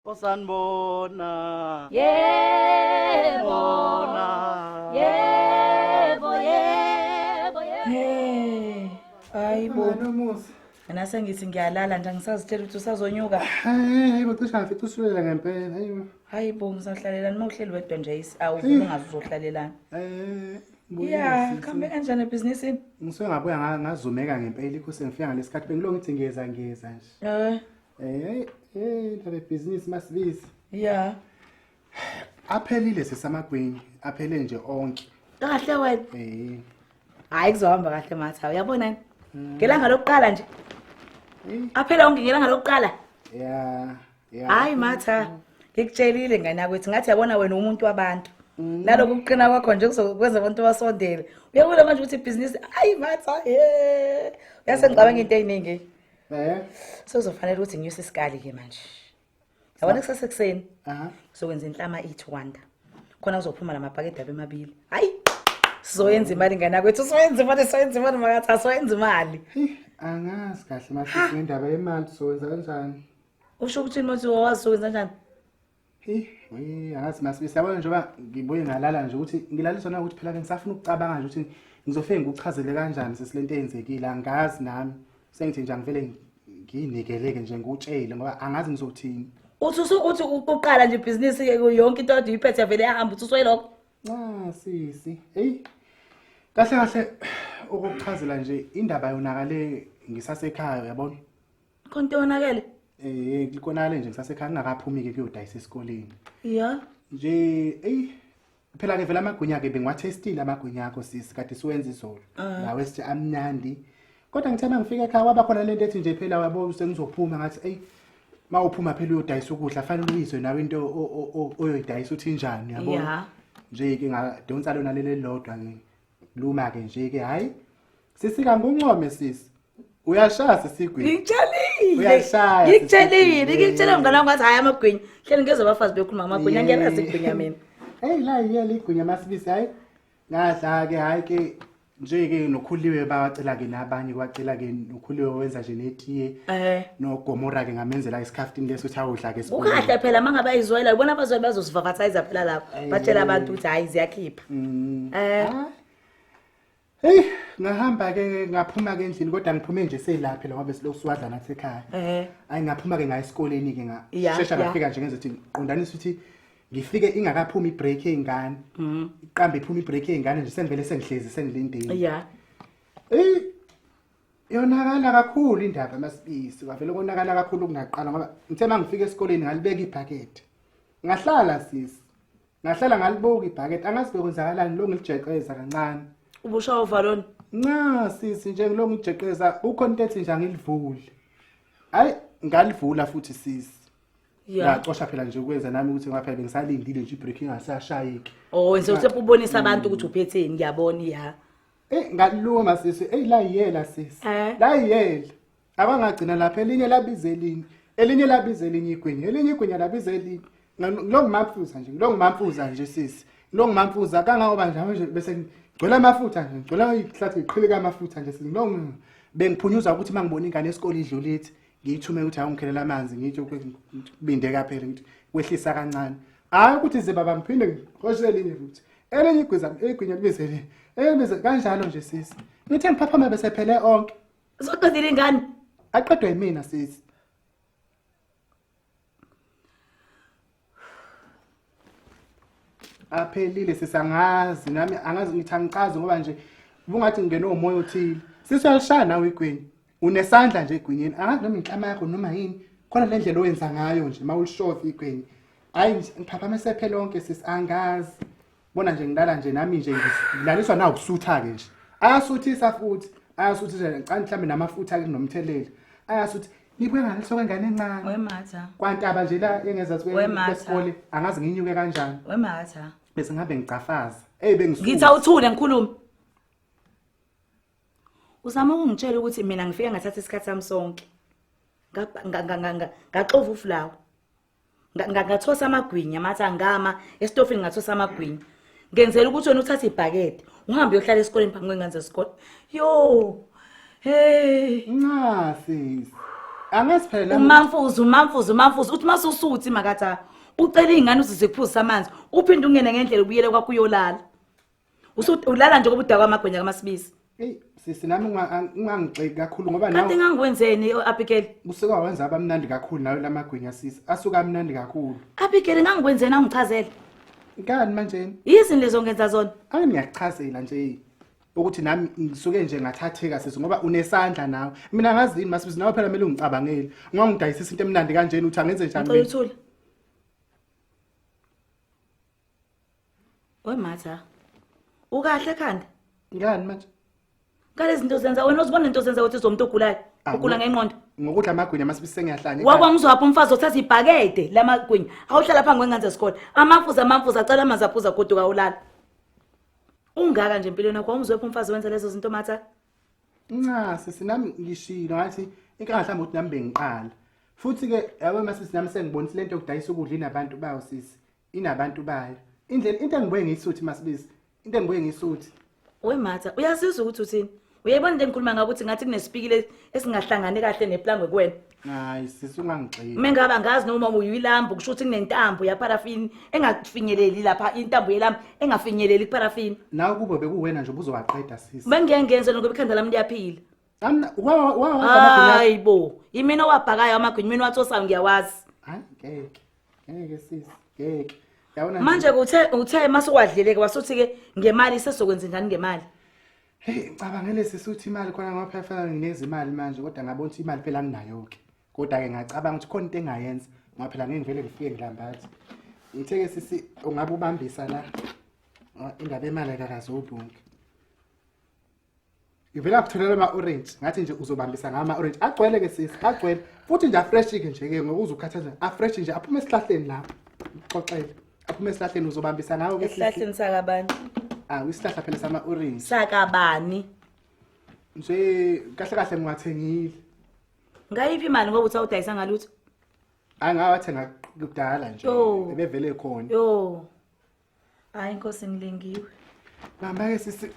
osanibona yebo yebo yebo hey hayi bo nomusa mina sengithi ngiyalala nje angisazitshela ukuthi usazonyuka hayi bo cisha ngifica usulela ngempela hayi bo hayi bo ngizohlalelani uma uhleli wedwa nje awuvumi ungazi uzohlalelani eh ya kambe kanjani ebhizinisini ngisuke ngabuya ngazumeka ngempela ikho sengifika ngalesikhathi bengilo ngithi ngiyeza ngiyeza nje eh Eh, eh, ndaba ebhizinisi masibisi. Yeah. Aphelile sesamagwini, aphele nje onke. Kahle wena. Eh. Hayi kuzohamba kahle matha. Uyabona yini? Hmm. Ngelanga lokuqala nje. Eh. Aphele onke ngelanga lokuqala. Yeah. Yeah. Hayi matha. Hmm. Ngikutshelile ngane yakwethu ngathi yabona wena umuntu wabantu. Mm. naloku kuqina kwakho nje kuzokwenza abantu basondele uyabona manje ukuthi ibhizinisi ayi matha ye uyase ngicabanga into eyiningi Eh. Sozofanele ukuthi nginyuse isikali ke manje. Yabona kusasa ekseni. Aha. Sokwenza inhlama eat wonder. Khona uzophuma lamabhakede abe mabili. Hayi. Sizoyenza imali ngana kwethu, sizoyenza imali, sizoyenza imali makathi, sizoyenza imali. Angazi kahle manje indaba yemali sizowenza kanjani? Usho ukuthi manje wawazi sizowenza kanjani? angazi masibisi yabona njengoba ngibuye ngalala nje ukuthi ngilaliswa na ukuthi phela ke ngisafuna ukucabanga nje ukuthi ngizofike ngikuchazele kanjani sesile nto eyenzekile angazi nami sengithi nje angivele ngiyinikeleke nje ngikutshele ngoba angazi ngizothini uthi usukuthi uqala nje ibhizinisi yonke into ade uyiphethe yavele yahamba uthi uswelokho nca sisi eyi kahle kahle ukuchazela nje indaba yonakale ngisasekhaya uyabona Konke wonakele? Eh, ngikonakele nje ngisasekhaya ngingakaphumi ke kuyodayisa esikoleni. Yeah. Nje, ey phela ke vela amagwinya ke bengiwathestile amagwinya akho sisi kade siwenza izolo. Ah. Lawo esithi amnandi. Kodwa ngithe mangifika ekhaya waba khona lento ethi nje phela wabo sengizophuma ngathi ey mawuphuma phela uyodayisa ukudla fanele uyizwe nawe into o- o- o- oyoyidayisa uthi injani yabo. Yeah. Nje ke ngadonsa lona leli lodwa ke. Luma ke nje ke hayi. Sisi kanguncome sisi. Uyashaya sisigwini. Ngitshelile. Uyashaya. Ngitshelile, ngitshelile mngane wami ngathi hayi amagwinya. Hleli ngezwe abafazi bekhuluma amagwinya ngiyalazi igwinya mina. Hey la yiya ligwinya masibisi hayi. Ngadla ke hayi ke nje ke nokhuliwe bawacela ke nabanye kwacela ke nokhuliwe wenza nje netiye Eh. nogomora ke ngamenzela isikhaftini leso ukuthi awudla ke Ukahle phela mangabe ayizwela ubona abazweli bazosivavathayiza phela lapho. Batshela abantu ukuthi hayi ziyakhipha. Mm. Eh. Ah. Hey, ngahamba ke ngaphuma ke endlini kodwa ngiphume nje selaphi la wabe siloku siwadla nathi ekhaya. Eh. Ayi ngaphuma ke ngaye esikoleni ke nga. Yeah, Shesha yeah. ngafika nje ngenze ukuthi qondanisa ukuthi ngifike ingakaphumi ibreak eyingane. Mhm. Iqambe iphuma ibreak eyingane nje sengivele sengihlezi sengilindile. Yeah. Eh. Yonakala kakhulu indaba masibisi. Wavele konakala kakhulu kungaqala ngoba ngithe mangifika esikoleni ngalibeka ibhakede. Ngahlala sisi. ngahlala ngalibuka ibhakede angazi bekwenzakalani lo ngilijeqeza kancane ubusha uvalon nca sisi nje ngilo ngijeqeza ukho into ethi nje angilivuli hayi ngalivula futhi sisi Yeah. Ngacosha phela nje ukwenza nami ukuthi ngaphela bengisalindile nje ibreak ingasashayiki. Oh, wenze ukuthi ubonisa abantu ukuthi uphetheni ngiyabona ya. Eh ngaliluma sisi, ey la yiyela sisi. Eh. La yiyela. abangagcina lapha elinye labiza elinye elinye labiza elinye igwinya elinye igwinya labiza elinye ngilongumamfuza nje ngilongumamfuza nje sisi ngilongumamfuza kangangoba njalo nje bese ngigcwela amafutha nje ngigcwela ihlathi ngiqhileka amafutha nje sisi ngilong bengiphunyuza ukuthi mangibona ingane esikole idlulithi ngiyithume ukuthi awungikhelela amanzi ngithi kubinde kaphela ngithi kwehlisa kancane hayi ukuthi ze baba ngiphinde ngihoshe elinye futhi elinye igwiza igwinya libize elinye elinye kanjalo nje sisi ngithe ngiphaphama bese phele onke Zoqedile ingane. Aqedwe yimina sisi. Aphelile sisangazi nami angazi ngithi angicazi ngoba nje ubungathi ngingene umoya othile. Sisi uyalishaya nawe igwini. Unesandla nje egwinyeni. Angazi noma inhlama yakho noma yini. Khona le ndlela owenza ngayo nje mawulishoth igwini. Hayi ngiphaphamese phela lonke sisi angazi. bona nje ngilala nje nami nje ngilaliswa na ukusutha ke nje ayasuthisa futhi ayasuthisa ngicani mhlambe namafutha ke nomtheleli ayasuthi nibuye ngani soke ngane encane wematha kwantaba nje la engeza kwesikole angazi nginyuke kanjani wematha bese ngabe ngicafaza hey bengisuka ngitha uthule ngikhuluma uzama ukungitshela ukuthi mina ngifike ngathatha isikhathi sami sonke ngaxova ufulawa Nga- nga- ngathosa amagwinya mathi angama esitofini ngathosa amagwinya ngenzela ukuthi wena uthathe ibhakede uhambe uyohlala esikoleni phambi kwengane zesikole yo hey nca sisi angazi phela nami- umamfuzi umamfuzi umamfuzi uthi masusuthi makatha ucela iy'ngane uzize kuphuzisa amanzi uphinde ungene ngendlela ubuyele kwakho uyolala ulala nje kobuda kwamagwenya kamasibisi eyi sisi nami ungangixeki kakhulu ngoba nawe kanti ngangikwenzeni Abigail usuke wenza abamnandi kakhulu nawe lamagwinya sisi asuka amnandi kakhulu Abigail ngangikwenzeni angichazele ngani manje yizini lezo ngenza zona ake ngiyakuchazela nje ukuthi nami ngisuke nje ngathatheka sisi ngoba unesandla nawe mina ngazi yini masibisi nawe phela kumele ungicabangele ngoba ngidayisisa into emnandi kanjena uthi angenze njani ngicela uthule We Matha, ukahle khanda? Ngani manje? Kale zinto zenza wena uzibona into zenza ukuthi uzomuntu ogulayo. Ah, Ugula ngo- ngenqondo. Ngokudla amagwinya masibise ngiyahlanya. Wakwa ngizwapha umfazi othatha ibhakede lamagwinya. Awuhlala phangi kwengane zesikole. Amafuza amafuza acela amanzi aphuza goduka ulala. Ungaka nje empilweni yakho awumzwepha umfazi wenza lezo zinto Matha. Nca sisi nami ngishilo ngathi inkinga mhlawumbe ukuthi nami bengiqala. Futhi ke yabo masisi nami sengibonisa lento yokudayisa ukudla inabantu bawo sisi. inabantu bayo indlela into engibuye ngiyisuthi masibisi into engibuye ngiyisuthi we matha uyazizwa ukuthi uthini uyayibona into engikhuluma ngakho ukuthi ngathi kunesipikile esingahlangani kahle neplangwe kuwena hayi sisi ungangigxili uma ngaba ngazi noma uyilambu kusho ukuthi kunentambo yaparafini engafinyeleli lapha intambo yelambu engafinyeleli kuparafini nawe kubo bekuwena nje ubuzowaqeda sisi bengiyengenze lokho ikhanda lami liyaphila hayi bo yimina owabhakayo amagwinya imina wathosayo ngiyawazi hayi ngeke ngeke sisi ngeke yabona nje- manje uthe uthe masuwadleleke wasuthi ke ngemali sesokwenza njani ngemali hey cabangele sisi uthi imali khona ngoba phela fanele ngineze imali manje kodwa ngabona ukuthi imali phela anginayo ke kodwa ke ngacabanga ukuthi khona into engayenza ngoba phela ngeke ngivele ngifike ngilambathi ngithe ke sisi ungabe ubambisa la Ngoba indaba yemali akakaze ubunke ngivela kutholela ama-orange ngathi nje uzobambisa ngawo ama-orange agcwele ke sisi agcwele futhi nje afresh-ke nje-ke ngokuze ukhathaza afresh nje aphume esihlahleni lapho uxoxele aphume esihlahleni uzobambisa ngawo esihlahleni sakabani awu isihlahla phela sama-orange sakabani nje kahle kahle ngiwathengile ngayiphi imali ngoba uthi awudayisa ngalutho hayi ngawathenga kudala nje ebevele khona yo hayi nkosi ngilingiwe Mama-ke sisi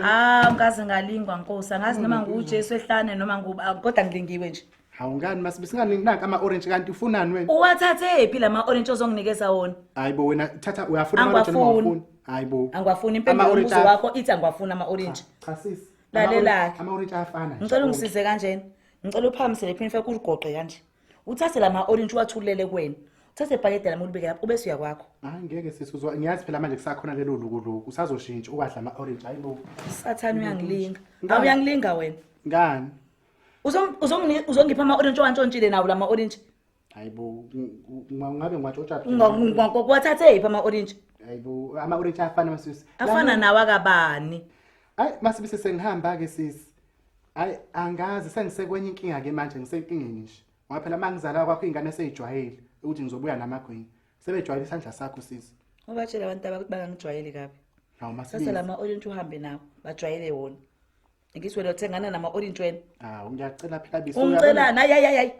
ah ngikaze ngalingwa nkosi angazi noma ngujesu ehlane noma nguba ah, kodwa ngilingiwe nje hawu ngani masibe singaningi nanka ama-orange kanti ufunani wena uwathathe phi la ma-orange ozonginikeza wona hayi bo wena thatha uyafuna ama-orange noma Angiwafuni. awafuni? hayi bo angiwafuni impendulo Ama-orange yombuzo aya- wakho ithi angiwafuni ama-orange cha sisi Lalelake. ama-orange ayafana nje ngicela ungisize kanjena ngicela uphakamisele phinifa kuligoqe kanje uthathe la ma-orange uwathulele kuwena uthathe ibhakede lami ulibeke lapho ubese uya kwakho hayi ngeke sisi uzwa ngiyazi phela manje kusakhona lelo lukuluku usazoshintsha ukwadla ama-orange hayi bo sathane uyangilinga Ngani? awuyangilinga wena ngani Uzong- uzongini- uzongipha ama-orange owantshontshile nawo la ma-orange hayi bo ng- ng- ngabe ngiwatshotsha Unga- unga- unga- kuwathathe iphi ama-orange hayi bo ama-orange ayafana masisi afana nawo akabani ayi masibise sengihamba-ke sisi hayi angazi sengisekwenye inkinga ke manje ngisenkingeni nje ngoba phela uma ngizala kwakho iy'ngane seyijwayele ukuthi ngizobuya namagwinya sebejwayele isandla sakho sisi ubatshela abantu aba ukuthi bangangijwayeli kabi hawu sasa masibizi lama orange uhambe nawo bajwayele wona ngithi wena uthengana nama orange wena hawu ngiyacela phela bisi ungicelani hayi hayi hayi hayi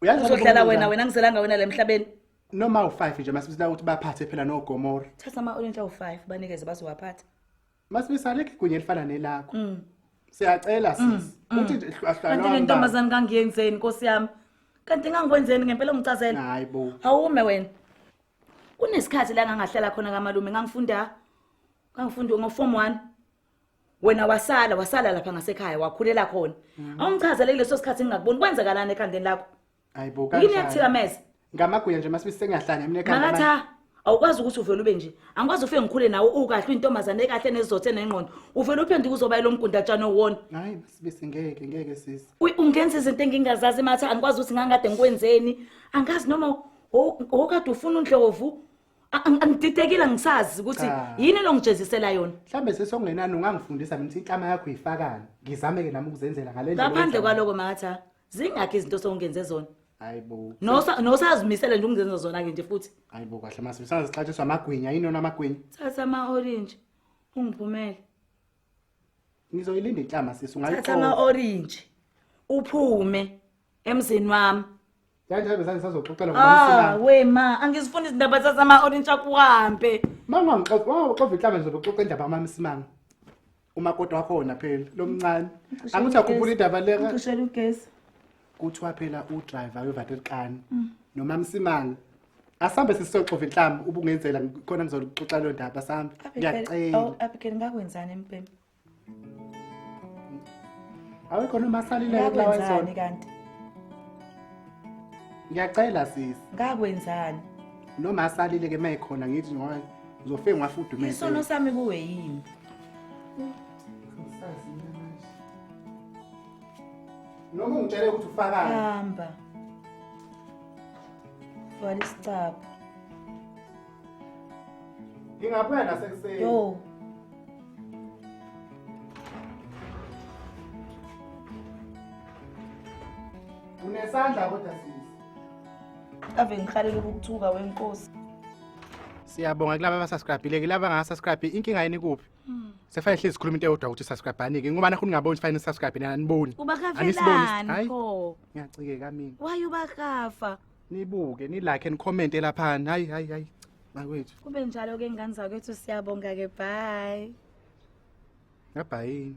Uyazi uzohlala ababona wena njani? wena ngizelanga wena la emhlabeni noma u-five nje masibisila ukuthi baphathe phela nogomora thatha ama orange awu-five banikeze bazowaphatha Masibisa alekho igunya elifana nelakho. Mm. Siyacela sis. Mm, mm. Uthi hlalwa. Kanti le ntombazane ngangiyenzeni Nkosi yami? Kanti ngangikwenzeni ngempela ungicazela? Hayi bo. Awume wena. Kunesikhathi la ngangahlela khona kamalume ngangifunda ngangifunda ngo form 1. Wena wasala wasala lapha ngasekhaya wakhulela khona. Awungichazele leso sikhathi ngingakuboni kwenzakalani ekhandeni lakho? Hayibo yini kanjani? yakuthikameza Ngamaguya nje masibisi sengiyahlanya mina ekhanda. manje. makatha awukwazi ukuthi uvele ube nje angikwazi ufike ngikhule nawe ukahle uyintombazane ekahle nezizotha enengqondo uvele uphenduke uzobayela umgundatshana owona Hayi masibisi ngeke ngeke sisi. Uy- ungenza izinto engingazazi matha angikwazi ukuthi ngangikade ngikwenzeni angazi noma wo- wokade ufuna undlovu A- ang- angididekile angisazi ukuthi Cha. yini elongijezisela yona Mhlambe sisi okungenani ungangifundisa mina ukuthi inhlama yakho uyifakani. Ngizame ke nami ukuzenzela ngale ndlela. ngaphandle oyenza. kwaloko makatha zingakhi izinto sewungenze zona hayibo Nosa- nosazimisele nje ukungenza zona-ke nje futhi hayibo kahle mase sazixatshiswa amagwinya yini yona amagwinya thatha ama-orange ungiphumele ngizoyilinda inhlama sisi thatha ungayiqoka ama-orange uphume emzini wami kanjalo besane sazoxoxela Ah, ngomsila we ma, angizifuni izindaba zazama orange akuhambe. mangangixoxa inhlama ngizobe uxoxa indaba amamisimanga umakoti wakhona phela lomncane angithi akhuphula indaba leka Ngishela ugesi. kuthiwa phela udriver wevaterkani noma msimanga asambe sisoxova inhlamba ubungenzela khona ngizoluxoxa leyo ndaba sambe Abigail, ngiyacela awu, Abigail ngakwenzani empempe? awekho noma asalileke kulawa Ngakwenzani nsona kanti? ngiyacela sisi Ngakwenzani? noma asalileke uma ekhona ngithi ngoba ngizofike ngifudumeze Isono sami kuwe yini? noma ungitshele ukuthi ufakani hamba vala isicaba ngingabuya nasekuseni yo unesandla kodwa sisi ave ngihalela ukuthuka wenkosi Siyabonga kulaba abasubscribe-ile kulaba abanga-subscribe inkinga yini kuphi? Hmm. Sekufanele hlezi sikhuluma into eyodwa ukuthi subscribe-anike ngoba nakho ningaboni ukuthi fanele subscribe nina aniboni. Ubakafelani Hayi, pho? Ngiyacikeka mina. Why ubakafa? Nibuke, nilike and comment laphana. Hayi hayi hayi. Makwethu. Kube njalo ke ngane zakwethu siyabonga ke bye. Ngabhayini.